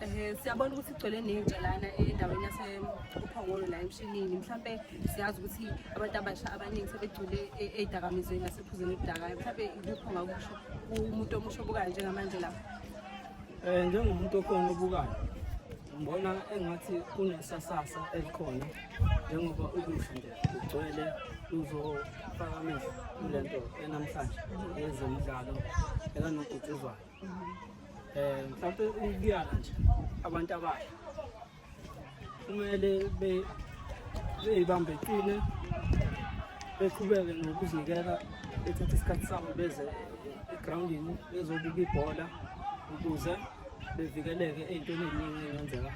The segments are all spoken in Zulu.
Eh siyabona ukuthi igcwele nentsha lana endaweni yase uphongolo la emshinini mhlambe siyazi ukuthi abantu abasha abaningi sebegcule e-, edakamizweni nasephuzeni udaka mhlambe ikupho ngakusho umuntu omusho bukayo njengamanje lapha eh njengomuntu okhona obukayo ngibona engathi kunesasasa elikhona njengoba ukusho nje ugcwele uzofaka amehlo kule nto enamhlanje yezemidlalo ekanobhutshuzwayo eh mhlawumbe ukuyala nje abantu abasha kumele be beyibambe qine beqhubeke nokuzinikela bethathe isikhathi sabo beze egroundini bezobuka ibhola ukuze bevikeleke ey'ntweni ey'ningi ey'ngenzeka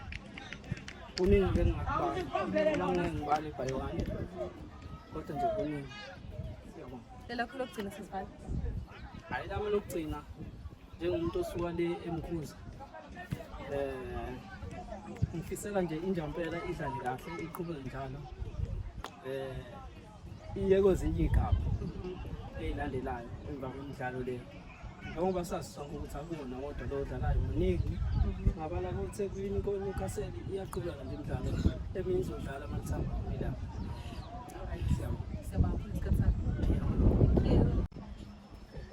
kuningi ke ngingakubali ngingibale ibhayiwane kodwa nje kuningi siyabonga Lelakho lokugcina sesibhala. Hayi lami lokugcina njengomuntu osuka le emkhuza. Eh ngifisela nje injampela idlale kahle iqhubeke njalo. Eh iye kwezinye igaba ezilandelayo emva komdlalo le. njengoba sazi sonke ukuthi akuwona wodwa lo odlalayo muningi ngabala kothekwini konewcastle iyaqhubeka nje imidlalo eminye izodlala amathambo ilapha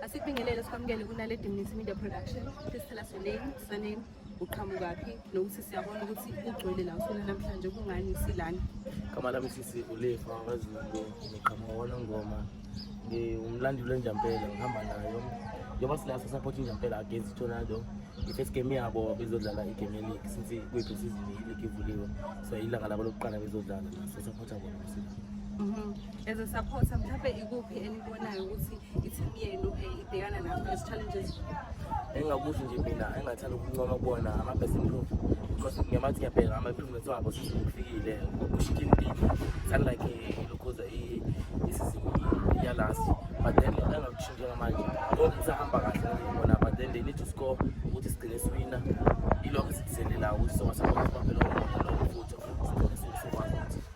Asibingelele sikwamukele kunale Dimnisi Media Production. Please tell us your name, surname, uqhamukaphi nokuthi siyabona ukuthi ugcwele la usona namhlanje kungani silana igama lami sisi ulefa wazulu ngiqhamuka wanongoma ngiwumlandeli wenjampela ngihamba nayo njengoba sila sasapotha injampela against itornado i-first game yabo bezodlala igame yeleague since kuyiphi sizini ileague ivuliwe so ilanga labo lokuqala bezodlala sasapotha bona msila mhm. as a supporter mhlawumbe ikuphi enibonayo ukuthi i-team yenu eh, ibhekana nazo ezi-challenges engingakusho nje mina engingathanda ukuncoma kubona ama-best improve because ngiyamathi ngiyabheka ama-improvements wabo sesikufikile ushikile impilo thani like eh, lokhuza isizini yalast but then engakusho njengamanje konke kusahamba kahle ngibona but then they need to score ukuthi sigcine siwina ilokho esidiselelayo ukuthi songasakwazi ukubaphela umona lowo futhi sigcine siwusokwazi ukuthi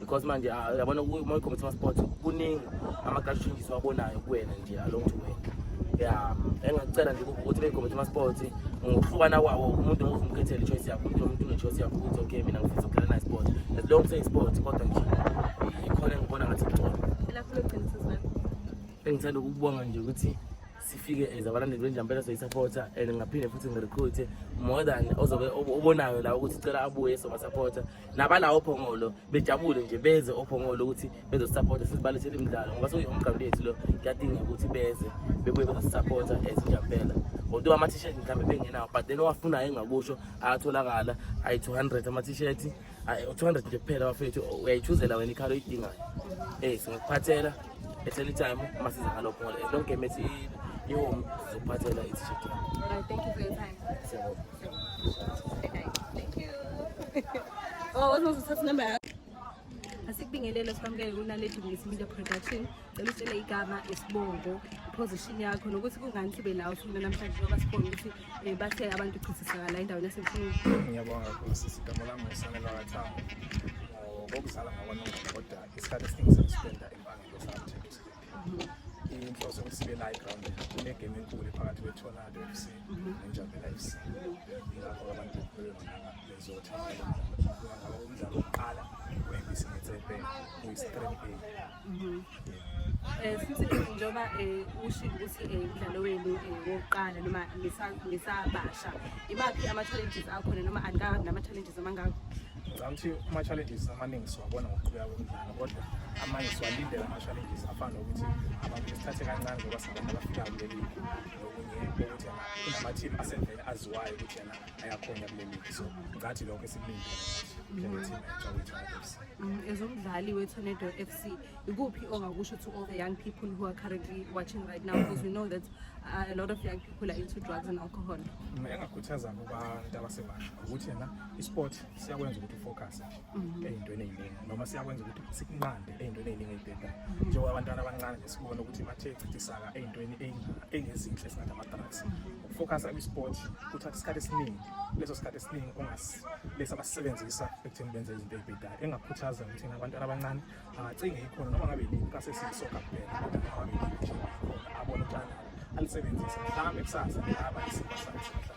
because manje ah, yabona uma uyikhomisa ama-sport kuningi ama-culture changes wabonayo kuwena nje along to wena ya engacela nje ukuthi beyikhomisa ama-sport ngokuhlukana kwawo umuntu ngokuthi umkhethele i-choice yakho umuntu nomuntu une-choice yakho ukuthi okay mina ngifisa ukudlala nayo sport as long say sport kodwa nje ikhona engibona ngathi kugcono engithanda ukubonga nje ukuthi sifike as abalandeli benjampela soyisapota and ngaphinde futhi ngirecruite more than ozobe obonayo la ukuthi cela abuye sobasapota nabalawo ophongolo bejabule nje beze ophongolo ukuthi bezosupporta sizibalethele imidlalo ngoba sekuyomgqabo lethu lo kuyadingeka ukuthi beze bebuye bezosupporta ezinjampela although ama-t-shirt mhlawumbe bengenawo but then owafunayo engakusho ayatholakala ayi-two hundred ama-t-shirt two hundred nje kuphela bafethu uyayichuzela wena ikhalo oyidingayo ey singakuphathela at any time uma siza ngalo phongolo as long game ethi ihome sizokuphathela i-t-shirt yakho Oh, what's most successful number? asikubingelele sikwamukele kunaledi ngesibindo production cela utshele igama isibongo iposition yakho nokuthi kungani sibe la usifuna namhlanje ngoba sibone ukuthi um bathe abantu uchithisakala endaweni yasemfini ngiyabonga kakhulu sisi igama lami ngusanelwa kathango ngokuzala ngakwanongoma kodwa isikhathi esiningi sengisipenda empangelo sathi inhloso yokusibe la eground kunegame enkulu phakathi kwetornado f c nenjabela f c yilapho abantu bezothatha umdlalo wokuqala wembisi nethebhe kuyistrebe Eh futhi njengoba eh ushilo ukuthi eh umdlalo wenu eh, wokuqala noma ngisabasha imaphi ama challenges akhona noma angabi nama challenges amangaka ngicabanga ukuthi ama-challenges amaningi siwabona ngokuqhubeka komdlalo kodwa amanye siwalindela ama-challenges afana nokuthi abantu besithathe kancane ngoba singabantu abafika kule ligi nokunye ukuthi kunama-team asevele aziwayo ukuthi yena ayakhona kule ligi so ngathi lokho esikulindele njengeteam ejawitanefs mm, as umdlali we-tornado f c ikuphi ongakusho to all the young people who are currently watching right now because we know that uh, a lot of young people are into drugs and alcohol mm, engakhuthaza kubantu abasebasha ukuthi yena isport siyakwenza ukuthi ufocus mhm. eyintweni eziningi noma siyakwenza ukuthi sikunqande eyintweni eziningi ezibhedayo mhm. njengoba abantwana abancane nje sibona ukuthi bathe chithisaka eyintweni engezinhle singathi ama-drugs mhm. ukufocusa kwi-sport kuthatha isikhathi esiningi leso sikhathi esiningi lesi abasisebenzisa ekutheni benze izinto ezibhedayo engakhuthaza ukuthi abantwana abancane angacinge ikhona noma ngabe yini kasesiyisoka kuphela kodwa noma ngabe yini abona ukuthi alisebenzise mhlawumbe kusasa ngaba isimo sakhe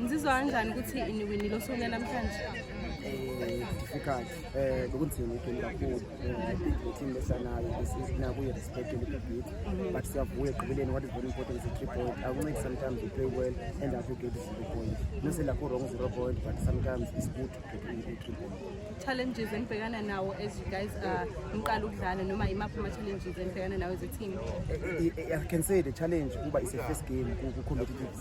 Ngizizwa kanjani ukuthi iniwinile osonye namhlanje? Eh, difficult eh bekunzima igame kakhulu eh, team lesanayo isinakuye respect elibig mhm. but siyavuya ekugqibeleni what is very important is a three point i will make sometimes you play well and after you get the zero point no say lakho wrong zero point but sometimes it's good to get a three point challenges enibhekana nawo as you guys are uh, niqala ukudlala noma imaphi ama challenges enibhekana nawo as a team eh, eh, i can say the challenge kuba is a first game ku competitive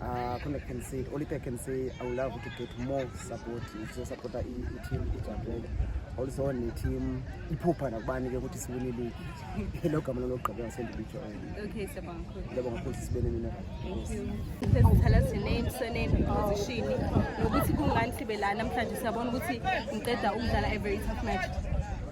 Uh, khona can say only thing I can say I would love to get more support to support i team ijabhele also ne team iphupha nakubani ke ukuthi siwine league lo gama lokugqibela sendibijo okay siyabonga kakhulu ngiyabonga kakhulu sibene mina thank you please tell us your name surname position nokuthi kungani sibe la namhlanje siyabona ukuthi ngiqeda ukudlala a very tough match